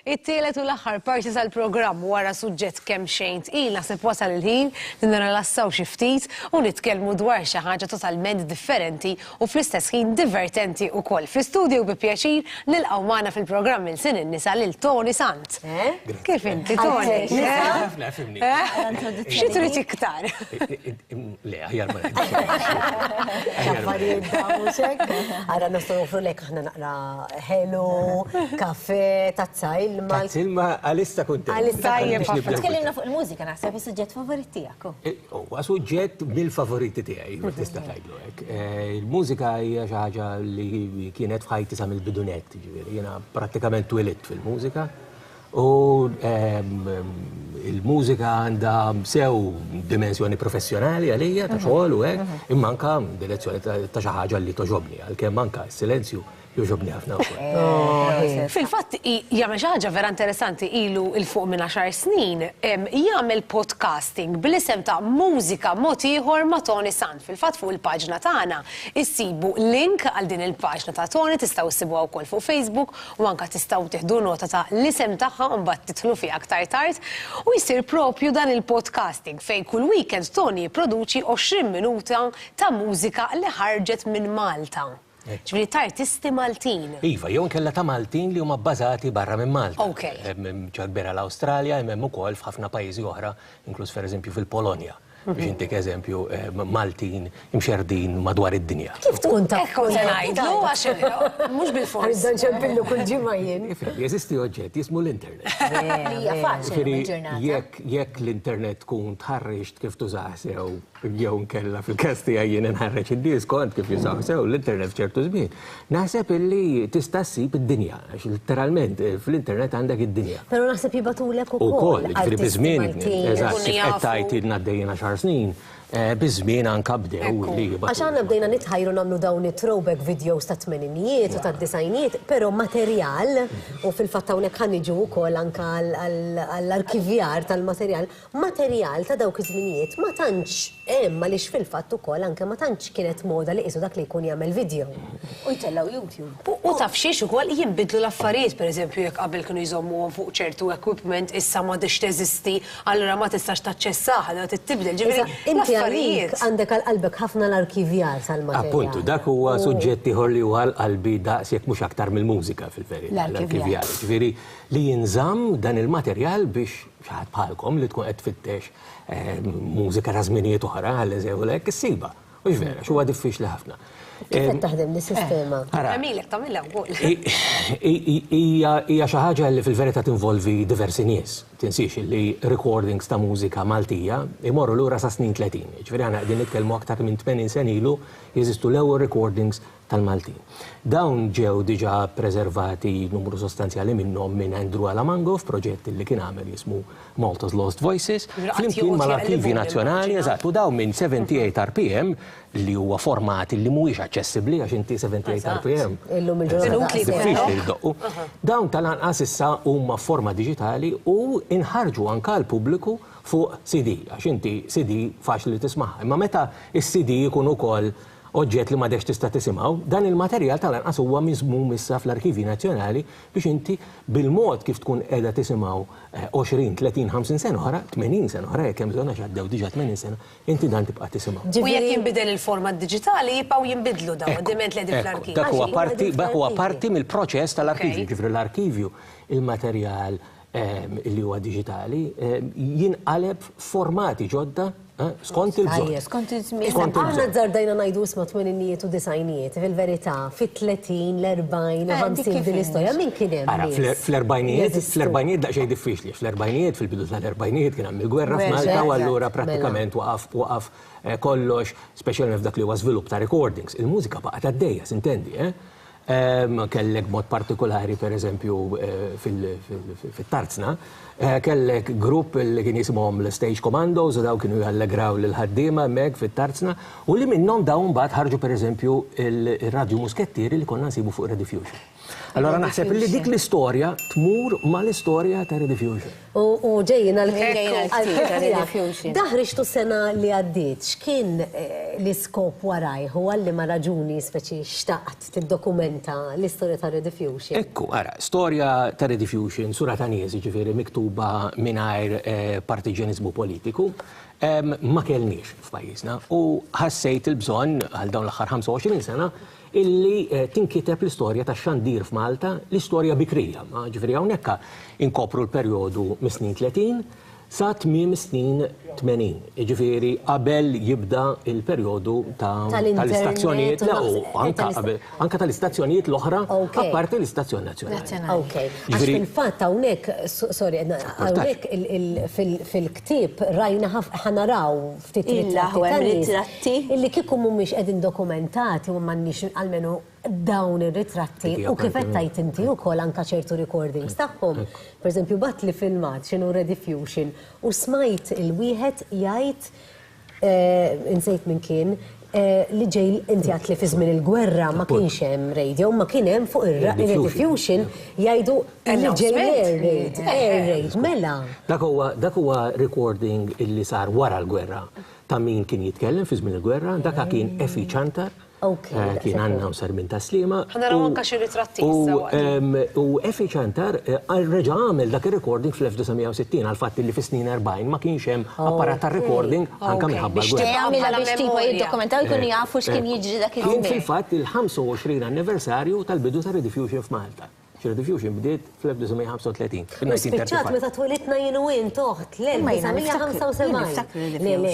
It-tielet u l-aħħar parti tal-programm wara suġġett kemm xejn tqil naħseb wasal il-ħin li nirrelassaw xi ftit u nitkellmu dwar xi ħaġa totalment differenti u fl-istess ħin divertenti wkoll. Fl-istudju bi pjaċir nilqgħu magħna fil-programm il-sin in-nisa lil Tony Sant. Eh? Kif inti Tony? Eh? Xi trid iktar? Le, aħjar ma X'affarijiet dawn mhux hekk? Ara nistgħu nofru lek aħna naqra ħelu, kafè, tazza ilma. Tazza ilma għalissa kuntent. Għalissa tajjeb ħafna. Tkellimna fuq il-mużika naħseb is-suġġett favorit tiegħek. Huwa suġġett mill-favoriti tiegħi, ma tista' tgħidlu hekk. Il-mużika hija xi ħaġa li kienet f'ħajti sa mill-bidunet, jiġifieri jiena prattikament twilidt fil-mużika. U il-mużika għandha sew dimensjoni professjonali għalija ta' xogħol u hekk, imma anka direzzjoni ta' xi ħaġa li toġobni, għalkemm anka s-silenzju joġobni ħafna wkoll. Fil-fatt jagħmel xi ħaġa vera interessanti ilu 'il fuq minn għaxar snin jagħmel podcasting bl-isem ta' Mużika Mod Ieħor ma' Toni Sant. Fil-fatt fuq il-paġna tagħna issibu link għal din il-paġna ta' Toni, tistgħu ssibuha wkoll fuq Facebook u anke tistgħu tieħdu nota ta' l-isem tagħha u mbagħad tidħlu fiha aktar tard, u jsir propju dan il-podcasting fejn kull weekend Toni jipproduċi 20 minuta ta' mużika li ħarġet minn Malta. Ġifieri t'artisti Maltin. Iva, jew inkella ta' Maltin li huma bbażati barra minn Malta. Hemm biċċa kbira l-Awstralja, imma hemm ukoll f'ħafna pajjiżi oħra, inkluż per eżempju fil-Polonja. biex intik eżempju, Maltin imxerrdin madwar id-dinja. Kif tkun taf? Hekk kont se ngħidlu għax mhux bil-fors. Għax dan ċempillu kull ġimgħa jien. Jeżisti oġġett jismu l-internet. Hija faċli l-ġurnata. Jekk jekk l-internet tkun tħarreġ kif tużaha sew jew inkella fil-każ tiegħi jien inħarreġ in-nies kont kif jużaha sew l-internet f'ċertu żmien. Naħseb illi tista' ssib id-dinja, għax litteralment fl-internet għandek id-dinja. Però naħseb jibgħatulek ukoll. Ukoll, jiġifieri biż-żmien, eżatt, kif qed tgħid ilna għaddejjin għaxar snin, biż-żmien anke bdew li jibgħatu. Għax aħna bdejna nitħajru nagħmlu dawn it-throwback videos tat-tmeninijiet u tad-disgħinijiet, però materjal, u fil-fatt hawnhekk ħa niġu wkoll anke għall-arkivjar tal-materjal, Materjal ta' dawk iż-żminijiet ma tantx hemm għaliex fil-fatt ukoll anke ma tantx kienet moda li qisu dak li jkun jagħmel video. U jtellgħu YouTube. U taf xiex ukoll, jinbidlu l-affarijiet, pereżempju jekk qabel kienu jżommuhom fuq ċertu equipment issa m'għadhiex teżisti, allura ma tistax taċċessaha, allura trid tibdel, ġifieri l-affarijiet. Iżda, inti għalik għandek għal qalbek ħafna l-arkivjar tal-materjal. Appuntu, dak huwa suġġett ieħor li huwa għal qalbi daqs jekk mhux aktar mill-mużika fil-verità, l-arkivjar. Jiġifieri li jinżamm dan il-materjal biex Xi ħadd bħalkom li tkun qed tfittex mużika ta' żminijiet oħra, għall-eżem u hekk, issibha. Mhux vera, għax huwa diffiċli ħafna. Kif qed taħdem din sistema? Tagħmilek, tagħmilha wkoll. Hija xi ħaġa li fil-verità tinvolvi diversi nies. Tinsiex li recordings ta' mużika Maltija jmorru lura sas-snin tletin. Jiġifieri aħna qegħdin nitkellmu aktar minn tmenin sena ilu jeżistu l-ewwel recordings tal-Maltin. Dawn ġew diġà ppreservati numru sostanzjali minnhom minn Andrew Alamango f'proġett li kien għamel jismu Malta's Lost Voices, flimkien mal-Arkivji Nazzjonali, eżatt, u dawn minn 78 rpm li huwa format li mhuwiex aċċessibbli għax inti 78 rpm. Illum il-ġurnata. Diffiċli li ddoqqu. Dawn tal-anqas issa huma f'forma diġitali u nħarġu anke għall-pubbliku fuq CD, għax inti CD faċli li tismagħha. Imma meta s-CD jkun ukoll oġġett li m'għadekx tista' tisimgħu, dan il-materjal tal-anqas huwa miżmum issa fl-arkivji nazzjonali biex inti bil-mod kif tkun qiegħda tisimgħu 20, 30, 50 sena oħra, 80 sena oħra jekk hemm bżonn għax għaddew diġà 80 sena, inti dan tibqa' tisimgħu. U jekk jinbidel il-format diġitali jibqgħu jinbidlu dawn id-diment li qegħdin fl-arkivju. Dak huwa parti, dak huwa parti mill-proċess tal-arkivju, jiġifieri l-arkivju, il-materjal, li huwa diġitali, jinqaleb formati ġodda skont il-bżonn. Skont il-żmien. Aħna żardajna ngħidu isma' tmeninijiet u disajnijiet, fil-verità, fit-30, l-40, 50 din l-istorja. Min kien hemm? Ara, fl-erbajnijiet, fl-erbajnijiet daqsxejn diffiċli. Fl-erbajnijiet, fil-bidu tal-erbajnijiet kien hemm il-gwerra f'Malta u allura prattikament waqaf waqaf kollox, speċjalment f'dak li huwa żvilupp ta' recordings. Il-mużika baqgħet għaddejja, sintendi, eh? Kellek b'mod partikulari, per eżempju, fit-Tarzna, kellek grupp li kien jisimhom l-Stage Commandos u daw kienu jallegraw lill-ħaddiema hemmhekk fit-Tarzna u li minnhom daw imbagħad ħarġu per eżempju r-radju muskettieri li konna nsibu fuq Rediffusion. Allura naħseb li dik l-istorja tmur mal-istorja ta' Rediffusion. U ġejjin għall-ħin. Dak ħriġtu s-sena li għaddiet, x'kien l-iskop warajh u għal liema raġuni speċi xtaqt tiddokumenta l-istorja ta' Rediffusion? Ekku, ara, storja ta' Rediffusion, sura ta' nies, jiġifieri miktuba mingħajr partiġjaniżmu politiku, ma kellniex f'pajjiżna u ħassejt il-bżonn għal dawn l-aħħar 25 sena illi tinkiteb l-istorja tax-xandir f'Malta, l-istorja bikrija, jiġifieri hawnhekk inkopru l-perjodu mis-snin tletin sa tmiem is-snin tmenin, jiġifieri qabel jibda l-perjodu ta' tal-istazzjonijiet, le u anke qabel, anke tal-istazzjonijiet l-oħra apparti l-istazzjon nazzjonali. Okej, għax fil-fatt hawnhekk, sorry, hawnhekk fil-ktieb rajna ħa naraw ftit ritratti illi kieku mhumiex qegħdin dokumentati u m'għandniex almenu dawn ir-ritratti u kif qed tgħid inti wkoll anke ċertu recordings tagħhom. Pereżempju bagħatli filmat x'inhu Rediffusion u smajt il-wieħed jgħid insejt min kien, Li ġej inti għad li fi żmien il-gwerra ma kienx hemm radio, ma kien hemm fuq ir-rediffusion jgħidu li ġej air raid, air raid, mela. Dak huwa dak huwa recording illi sar wara l-gwerra ta' min kien jitkellem fi żmien il-gwerra, dak kien Effie Ciantar, kien announcer minn Tas-Sliema. Ħa naraw anke xi ritratti issa waqt. U Effie Ciantar reġa' għamel dak ir-recording fl-1960 għall-fatt li fis-snin 40 ma kienx hemm apparat tar-recording. Anke minħabba l-gwerra. Biex tagħmilha biex tipo jiddokumentaw jkunu jafu x'kien jiġri dak iż-żmien. Kien fil-fatt il-25 anniversarju tal-bidu ta' Rediffusion f'Malta. Rediffusion bdiet fl-1935, fin-1935. U spiċċat meta twilidna jien u int, oħt, l-1975. Le, le,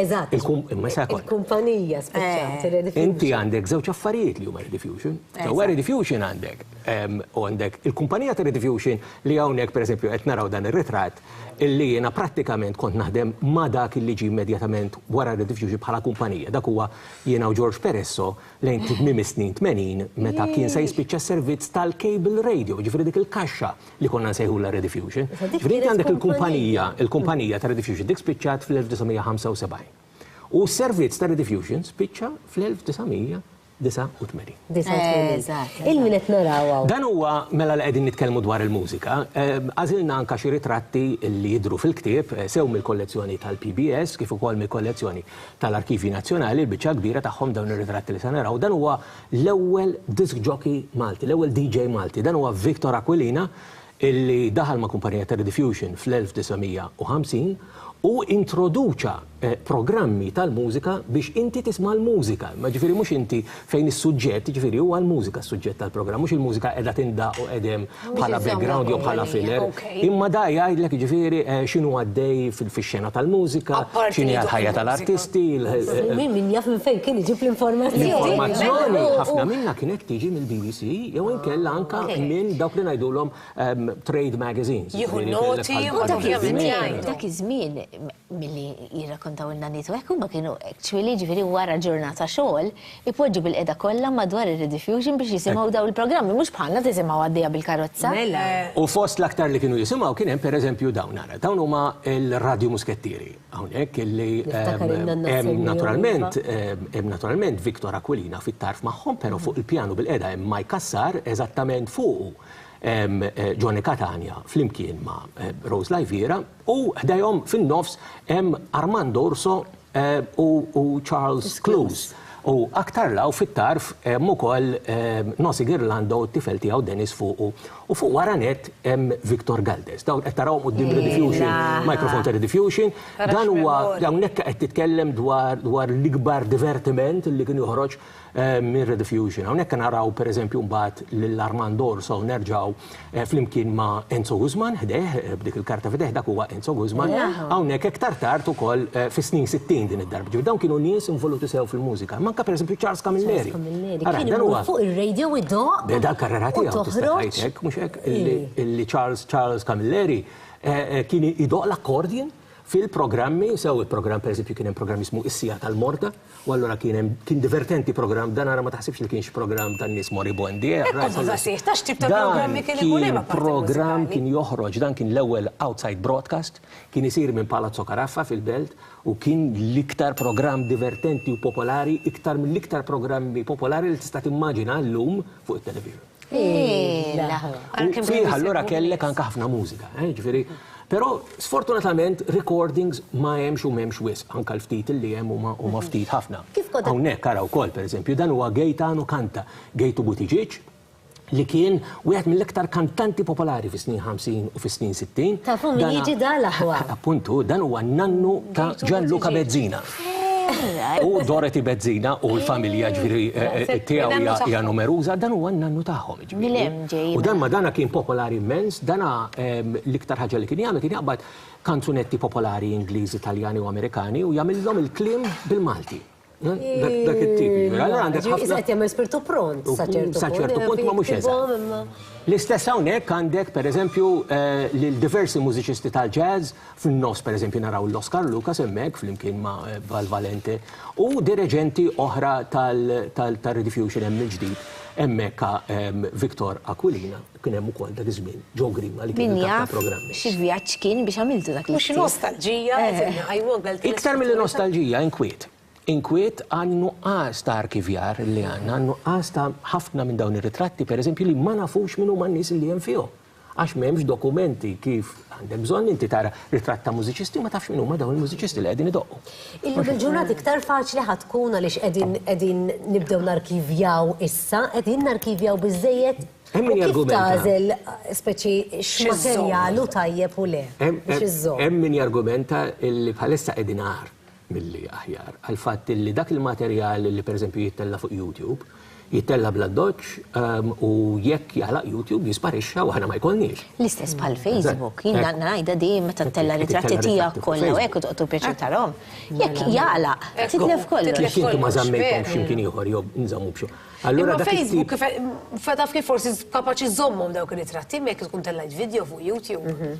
eżatt. Imma sa kont. Il-kumpanija spiċċat ir-Rediffusion. Inti għandek żewġ affarijiet li huma Rediffusion. Ġewwa Rediffusion għandek, u għandek il-kumpanija ta' Rediffusion li hawnhekk pereżempju qed naraw dan ir-ritratt, illi jiena prattikament kont naħdem ma' dak illi ġie immedjatament wara r-Rediffusion bħala kumpanija, dak huwa jiena u George Peresso lejn tmiem is-snin tmenin meta kien se jispiċċa s-servizz tal-cable radio, jiġifieri dik il-kaxxa li konna nsejħulha Rediffusion. Jiġifieri inti għandek il-kumpanija, il-kumpanija ta' Rediffusion, dik spiċċat fl-1975. U s-servizz ta' Rediffusion spiċċa fl-1900. 89. Il-min qed naraw hawn. Dan huwa, mela li qegħdin nitkellmu dwar il-mużika, għażilna anke xi ritratti li jidhru fil-ktieb, sew mill-kollezzjoni tal-PBS kif ukoll mill-kollezzjoni tal-Arkivji Nazzjonali, il-biċċa l-kbira tagħhom dawn ir-ritratti li se naraw. Dan huwa l-ewwel disk jockey Malti, l-ewwel DJ Malti. Dan huwa Victor Aquilina, illi daħal ma' kumpanija ta' ridiffusion fl-1950 u introduċa programmi tal-mużika biex inti tisma' l-mużika, imma ġifieri mhux inti fejn is-suġġett, jiġifieri huwa l-mużika s-suġġett tal-programm, mhux il-mużika qiegħda tindaqq u qegħed hemm bħala background jew bħala filler, imma da jgħidlek jiġifieri x'inhu għaddej fix-xena tal-mużika, x'inhi l-ħajja tal-artisti, il-. Min jaf minn fejn kien iġib l-informazzjoni. L-informazzjoni ħafna minnha kienet tiġi mill-BBC. jew inkella anke minn dawk li ngħidulhom trade magazines. Jieħu n-noti u dak iż-żmien. U dak iż-żmien, dak iż-żmien milli jirrakkontaw in-nanniet u hekk huma kienu actually jiġifieri wara ġurnata xogħol ipoġġu bil-qiegħda kollha madwar ir-rediffusion biex jisimgħu dawn il-programmi mhux bħalna tisimgħu għaddejja bil-karozza. U fost l-aktar li kienu jisimgħu kien hemm pereżempju dawn ara. Dawn huma l-Radju Muskettieri. Hawnhekk illi hemm naturalment hemm naturalment Victor Aquilina fit-tarf magħhom, però fuq il-pjanu bil-qiegħda hemm Mike Cassar, eżattament fuqu hemm Johnny Catania flimkien ma' Rose Lajviera u ħdejhom fin-nofs hemm Armand Urso u Charles Cluse. U aktar 'l hawn fit-tarf hemm ukoll Nosy Ghirlanda u t-tifel tiegħu Denis fuqu. U fuq wara nett hemm Victor Galdes. Dawn qed tarawhom quddiem Rediffusion, microphone ta' Rediffusion. Dan huwa, hawnhekk qed titkellem dwar dwar l-ikbar divertiment li kien joħroġ minn Rediffusion. Hawnhekk naraw pereżempju mbagħad lil Armand Orso nerġgħu flimkien ma' Enzo Guzman ħdejh b'dik il-karta f'idejh, dak huwa Enzo Guzman, hawnhekk iktar tard ukoll eh, fis-snin 60 din id-darba. Ġifieri dawn kienu nies involuti sew fil-mużika. Manka pereżempju Charles Camilleri. Ara, dan huwa fuq ir-radio u doq. Beda l-karriera tiegħu tista' tgħidlek, mhux hekk, illi Charles Charles Camilleri eh, eh, kien idoq l-akkordjen fil-programmi, sew il-programm pereżempju kien hemm programm jismu Is-Sija tal-Morta, U allura kien hemm kien divertenti programm dan ara ma taħsibx li kienx programm tan-nies moribondi. Eh, Hekk kont nsaqsih, ta' x'tip ta' programmi kien ikun hemm apparti Dan kien programm mużikali? kien joħroġ dan kien l-ewwel outside broadcast, kien isir minn Palazzo Caraffa fil-Belt u kien l-iktar programm divertenti u popolari iktar mill-iktar programmi popolari li tista' timmaġina llum fuq it-television. Fih allura kellek anke ħafna mużika, eh, ġifieri. Però sfortunatament recordings ma hemmx u m'hemmx wisq, anke l-ftit li hemm huma huma mhm. ftit ħafna. Kif kont hawnhekk ara wkoll pereżempju dan huwa Gejtanu Kanta, Gejtu Butiġiġ, li kien wieħed mill-iktar kantanti popolari fis snin 50 u fis snin 60. Tafu min jiġi dal aħwa. Appuntu, dan huwa nannu ta' Gianluca Bezzina. U Dorothy Bezzina u l-familja ġifieri tiegħu hija numeruża, dan huwa n-nannu tagħhom ġifieri. U dan ma dana kien popolari immens, dana l-iktar ħaġa li kien jagħmel kien jaqbad kanzunetti popolari Ingliżi, Taljani u Amerikani u jagħmilhom il-kliem bil-Malti. Dak it-tip. Allura għandek ħafna. Issa qed jagħmel spirtu pront sa ċertu punt. Sa ċertu punt ma mhux eżatt. L-istess hawnhekk għandek pereżempju lil diversi mużiċisti tal-jazz, Fin-nofs pereżempju naraw lil Oscar Lucas hemmhekk flimkien ma' Val Valente u direġenti oħra tar-Rediffusion hemm mill-ġdid hemmhekk Victor Aquilina, kien hemm ukoll dak iż-żmien Joe Grima li kien il-kap tal-programmi. Min jaf x'vjaġġ kien biex għamiltu dak l-iskit. Mhux nostalġija qegħdin iqajmu għall-belt tal-iskit. Iktar milli nostalġija, inkwiet. Inkwiet għan-nuqqas ta' arkivjar li għandna, għan-nuqqas ta' ħafna minn dawn ir-ritratti pereżempju li ma nafux min huma n-nies li hemm fihom. Għax m'hemmx dokumenti kif għandek bżonn inti tara ritratt ta' mużiċisti u ma tafx min huma dawn il-mużiċisti li qegħdin idoqqu. Illum il-ġurnata iktar faċli ħa tkun għaliex qegħdin qegħdin nibdew narkivjaw issa, qegħdin narkivjaw biżżejjed? Hemm min jargumenta. Kif tagħżel speċi x'materjal hu tajjeb u le biex iżżomm? Hemm min jargumenta li bħalissa qegħdin agħar. milli aħjar, għall-fatt li dak il-materjal li pereżempju jittella' fuq YouTube, jittella' bl-addoċċ u jekk jagħlaq YouTube jisparixxa u aħna ma jkollniex. L-istess bħal Facebook. Jien ngħidha din meta ttella' ritratti tiegħek kollha u hekk u toqgħod pjaċir tarahom. Jekk jagħlaq, titlef kollox. Jekk intom ma żammejthomx x'imkien ieħor jew nżammu b'xi. Imma Facebook, taf kif forsi kapaċi żżommhom dawk ir-ritratti imma jekk tkun tellajt vidjo fuq YouTube.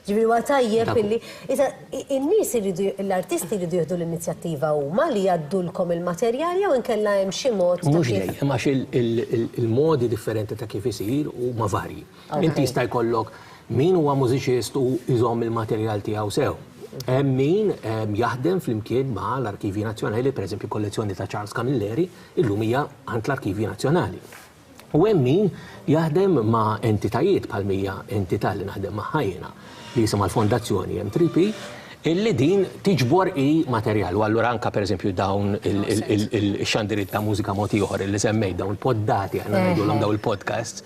Ġifieri huwa tajjeb illi iżda n-nies iridu l-artisti jridu jieħdu l-inizjattiva huma li jgħaddulkom il-materjal jew inkella hemm xi mod ta' Mhux dejjem għax il-modi differenti ta' kif isir huma varji. Inti jista' jkollok min huwa mużiċist u jżomm il-materjal tiegħu sew. Hemm min jaħdem flimkien ma' l-Arkivji Nazzjonali, pereżempju l-kollezzjoni ta' Charles Camilleri llum hija għand l-Arkivji Nazzjonali. U hemm min jaħdem ma' entitajiet bħal mija entità li naħdem magħha jiena li jisimha l-Fondazzjoni M3P illi din tiġbor hi materjal u allura anke pereżempju dawn ix-xandiriet ta' mużika mod ieħor illi semmejt dawn il-poddati aħna ngħidulhom dawn il-podcasts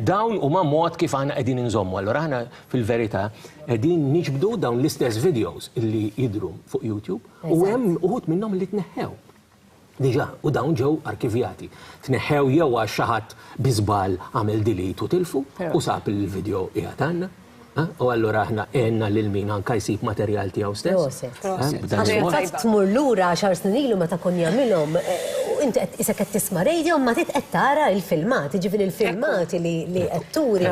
dawn huma mod kif aħna qegħdin inżommu allura aħna fil-verità qegħdin niġbdu dawn l-istess videos illi jidhru fuq YouTube u hemm uħud minnhom li tneħħew. diġà u dawn ġew arkivjati, tneħħew jew għax xi ħadd bi żball għamel delete u tilfu u sab li l-video qiegħed għandna. U allura aħna għenna lil min anke jsib materjal tiegħu stess. Għax fil-fatt tmur lura għaxar snin ilu meta kon jagħmilhom u inti qed isek qed tisma' radio imma tit qed tara l-filmati, ġifieri l-filmati li qed turi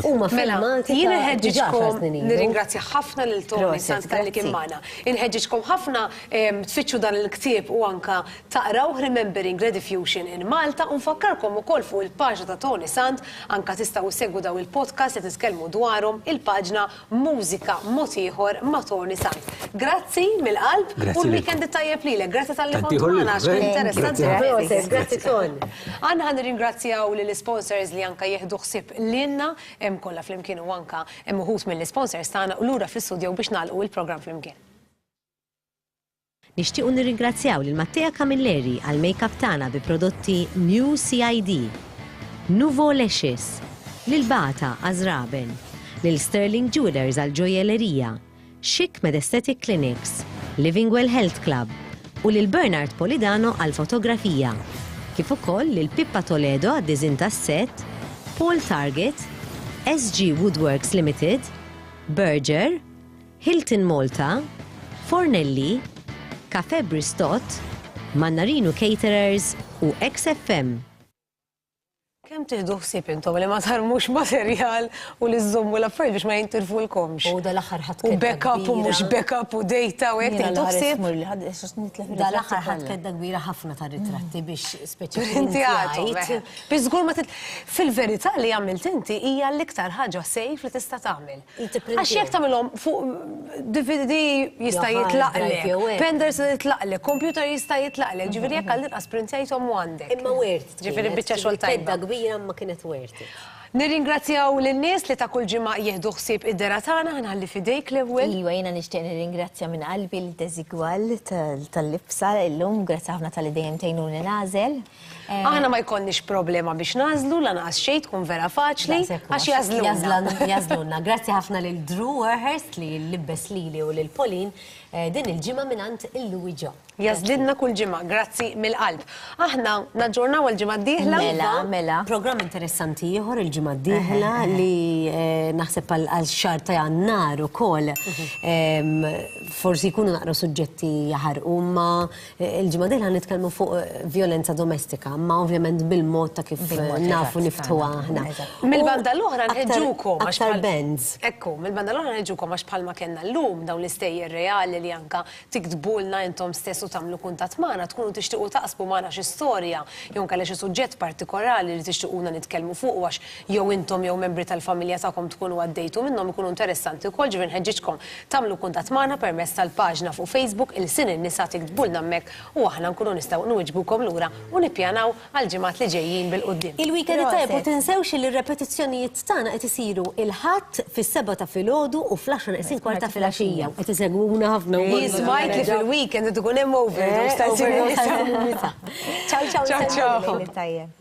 huma filmati ta' diġà għaxar snin ilu. Nirringrazzja ħafna lil Tony Sanz talli kien magħna. Inħeġġiġkom ħafna tfittxu dan il-ktieb u anke taqrawh Remembering Rediffusion in Malta u nfakkarkom ukoll fuq il-paġna ta' Toni Sant anke tistgħu issegwu dawn il-podcasts qed nitkellmu dwarhom il-paġna Mużika Mod Ieħor ma' Toni Sant. Grazzi mill-qalb u l-weekend it-tajjeb lilek. Grazzi talli kont magħna għax kien interessanti ħafna. Grazzi Ton. Aħna ħa nirringrazzjaw lill-isponsors li anke jieħdu ħsieb lilna kollha flimkien u anke hemm uħud mill-isponsors tagħna u lura fl-istudjow biex nagħlqu il-programm flimkien. Nixtiequ nirringrazzjaw lil Mattea Camilleri għall-makeup tagħna bi prodotti New CID, Nouveau Lashes, lil Bata għaż-żraben, lil Sterling Jewellers għall-ġojjellerija, Chic med Aesthetic Clinics, Livingwell Health Club u lil Bernard Polidano għall-fotografija, kif ukoll lil Pippa Toledo għad-diżinn tas-sett, Paul Target, SG Woodworks Limited, Berger, Hilton Malta, Fornelli, Cafè Bristot, Mannarinu Caterers u XFM. Kemm tieħdu ħsieb intom li ma tarmux materjal u li żżommu l-affarijiet biex ma jintilfulkomx. U dal-aħħar ħadd U backup u mhux backup u data u hekk tieħdu ħsieb. Dal-aħħar ħadd kedda kbira ħafna ta' ritratti mm. biex speċjalment. Biżgur ma fil-verità li għamilt inti hija l-iktar ħaġa sejf li tista' tagħmel. Għax jekk tagħmilhom fuq DVD jista' jitlaqlek, penders jitlaqlek, kompjuter jista' jitlaqlek, ġifieri jekk għal inqas printajthom u għandek. Imma worth it. Ġifieri biċċa xogħol tajba. Tedda kbira imma kienet worth it. Nirringrazzjaw lin-nies li ta' kull ġimgħa jieħdu ħsieb id-dehra tagħna, ħa nħalli f'idejk l-ewwel. Iva, jiena nixtieq nirringrazzja minn qalbi lil Desigual tal-libsa llum, grazzi ħafna talli dejjem tgħinuni nagħżel. Aħna ma jkollniex problema biex nagħżlu lanqas xejn tkun vera faċli għax jagħżlulna. Jagħżlulna. Grazzi ħafna lil Drew Warhurst li libbes lili u lil Pauline eh, din il-ġimgħa mingħand il-Louis Ġo. Jagħżlilna kull ġimgħa, grazzi mill-qalb. Aħna naġġornaw il-ġimgħa d-dieħla. Mela, iva. mela. Programm interessanti ieħor il-ġimgħa d-dieħla eh, eh, li naħseb għal xahar ta' jannar ukoll mhm. forsi jkunu naqra suġġetti jaħarqu ma Il-ġimgħa dieħla ħa nitkellmu fuq vjolenza domestika, ma ovvjament bil-mod ta' kif nafu niftħuha aħna. Mill-banda l-oħra nħeġġukom għax bħal bands. Ekku, mill-banda l-oħra nħeġġukom għax bħalma kellna llum dawn l-istejjer reali li anke tiktbulna intom stess u tagħmlu kuntatt magħna tkunu tixtiequ taqsmu magħna xi storja jew inkella xi suġġett partikolari li tixtiequna nitkellmu fuqu għax jew intom jew membri tal-familja tagħkom tkunu għaddejtu minnhom ikunu interessanti wkoll, ġifieri nħeġġiġkom tagħmlu kuntatt magħna permezz tal-paġna fuq Facebook Ilsien in-Nisa tiktbulna hemmhekk u aħna nkunu nistgħu nwiġbukom lura u nippjanaw għall-ġimgħat li ġejjin bil-quddiem. Il-weekend it-tajjeb u tinsewx li r-repetizzjonijiet tagħna qed isiru il-Ħadd fis-sebgħa ta' filgħodu u fl-għaxra neqsin kwart ta' filgħaxija. Qed isegwuna ħafna wkoll. Hi smajt li fil-weekend qed ikun hemm overdose ta' Ilsien in-Nisa. Ċaw ċaw insellmilkom lejl it-tajjeb.